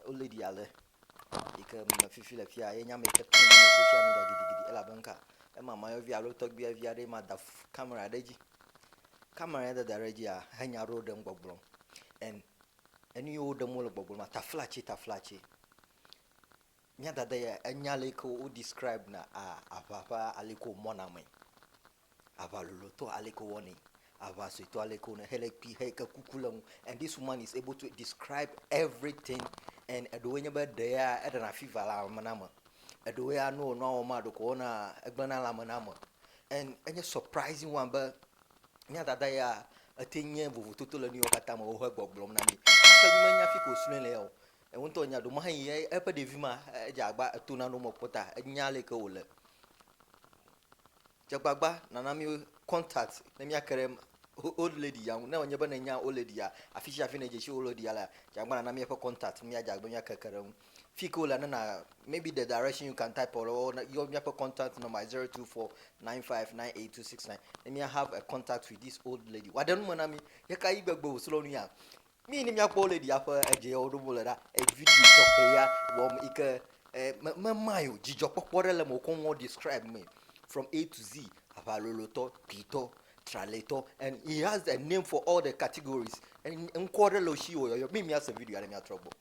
Wolé ɖi ale yi ke me fifi le fia ye nya me yi ke trend le social media gidigidi elabe nuka ema mayɔvi alo tɔgbia vi aɖe ma da kamera ɖe edzi. Kamera ya dada ɖe edzia he nya aɖewo ɖem gbɔgblɔm. En enu yi woɖem wole gbɔgblɔm ma taflatsi taflatsi. Nya dada ya enya le yi ke wo describe na a aʋa ƒe ali yi ke womɔna mee. Aʋa lolotɔ aleke wowɔnɛ, aʋa suetɔ aleke wonɛ hele kpui heyi ke kuku le eŋu and this woman is able to describe everything and eɖewoe nye be ɖe ya eɖena fever le ame na me, eɖewo ya ne wò nua wɔm maa ɖeko wona egble na lãme na ame and enye surprising one be mía dada ya ete nye vovototo le nuyawo katã me wohe gbɔgblɔm na mí gake mí menya fike wosrɔe le ya o. Eŋu ŋutɔ nya ɖo mahe yi eƒe ɖevi ma edze agba eto nane wome kpɔta enya aleke wole. Dze agbagba nàna mí contact ne míake ɖe old lady ya ŋu. Ne wònye be nènya old lady ya, afi sia afi nèdze si old lady ya lea, dze agbagba nàna mí eƒe contact ne míadze agbagba be míake ke ɖe eŋu. Fi ke wolea, ne nà, maybe the direction you can type alo yɔ míaƒe contact number ye zero two four nine five nine eight two six nine ne mía have a contact with this old lady. Wòaɖe nu me na mí. Ɣekaɣi gbegbe wòsrɔ̃ nu ya? Nuyi ne míakpɔ le ɖia ƒe edze ya woɖo le ɖa video tɔxɛ ya wɔm yi ke memae o dzidzɔkpɔkpɔ ɖe le me wokɔ nuwo describe me from A to Z aʋalolotɔ kpuitɔ tralɛtɔ and he has a name for all the categories ŋkɔ ɖe le wo si wòyɔyɔ mi míase video ya ne míatrɔ gbɔ.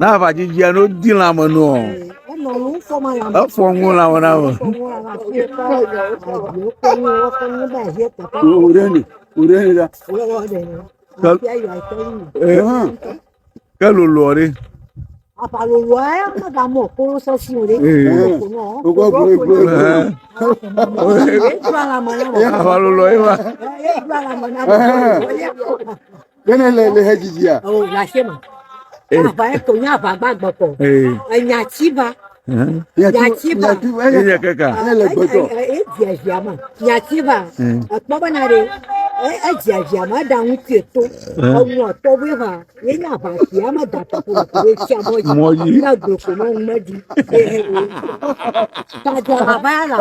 Na aʋa dzidzia no di lã me nua. Efɔ ŋu lã me na me. Wòɖe ni, wòɖe ni ɖa. Ke lolo ɔɖe. Aʋa lolo aɖe mega mɔ kolo sɔsi o ɖe. Wògbɔ gbɔ gbɔ. Aʋa lolo ye ma. Kene le le hedzidzia. O la se ma. Eh. Ava eto nya ava gba gbɔkɔ. Eh. Enya tsi va. Nya tsi va. Enya kaka. Enya le gbɔtɔ. E dzia dzia ma. Nya tsi va. Ekpɔ be na ɖe. E dzia dzia ma da ŋuti eto. Enu atɔ be va. Ye nya ava si ama da ta ko ko be tsi amɔ dzi. Mɔ dzi. Ya gbɔkɔ ma ŋmɛ dzi. Ta dza ava ya la.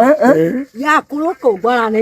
Ya kulo ko gbɔ la ne.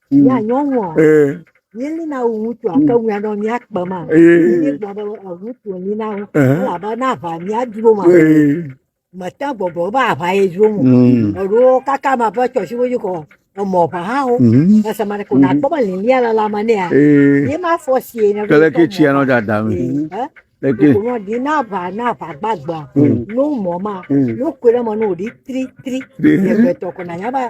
Mía mm. nyɔnua. Eh. Míeli na wo ŋutsu mm. ake ŋuia nɔ mía kpe ma. Eh. Míeli gblɔ be ŋutsu li na wo. Eh. Elabe na ʋa mía dro ma. Mete gbɔgblɔ be aʋa ye dro mo. Mm. Eɖowo kaka ma ƒe tsɔsi wo dzi kɔ. Emɔ ʋa hã wo. Mm-hmm. Ese ma ne ko nakpɔ mm-hmm. be lilia le la ma ne ya. Eh. Ye ma fɔ si ye ne. Kele ke tsia nɔ dada mi. Eke. Kò di na ʋa na ʋa gbagba. N'o mɔ ma. N'o kò ɖe mɔ n'o di tri tri. Yɛ gbɛtɔ kò na nyaba.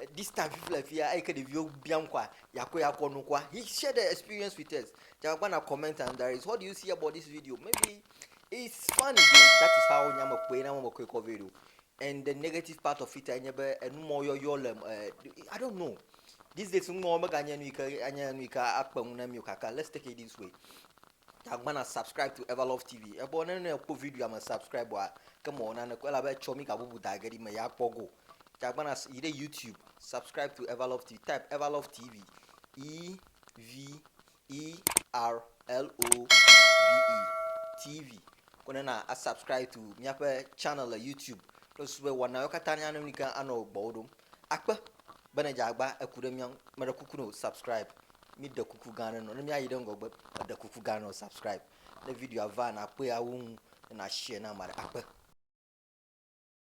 Eh, this time fifi le fia eyi ke ɖeviwo bia ŋkɔa yakɔ yakɔ nukua he share the experience with us jagba na comment and there is what do you see about this video maybe it's funny that is how nya me kpɔe na me kɔe kɔ video and the negative part of it enye be enumɔ yɔyɔ le eh, i don't know these days numɔ mega nye nu yi ke anye nu yi ke akpe ŋu na mi o kaka let's take it this way jagba na subscribe to everlove tv ebɔ ne ne kpɔ video me subscribe wa ke mɔ na ne kɔ elabe tsɔ mi gabubu da ge di me ya kpɔ go Gagbana yi ɖe YouTube, subscribe to Everlove TV, type Everlove TV, E V E R L O V E TV. Ko ne na a subscribe to míaƒe channel le YouTube kple susu be wɔnawo katã ne anɔ nika anɔ gbɔwo ɖom. Akpe be ne dzagba eku ɖe mía ŋu, meɖe kuku ne o subscribe. Mi ɖe kuku gã aɖe nɔ ne míayi ɖe ŋgɔgbe eɖe kuku gã nɔ subscribe. Ne videoa va nakpɔe awu ŋu ne na share na ame aɖe akpe.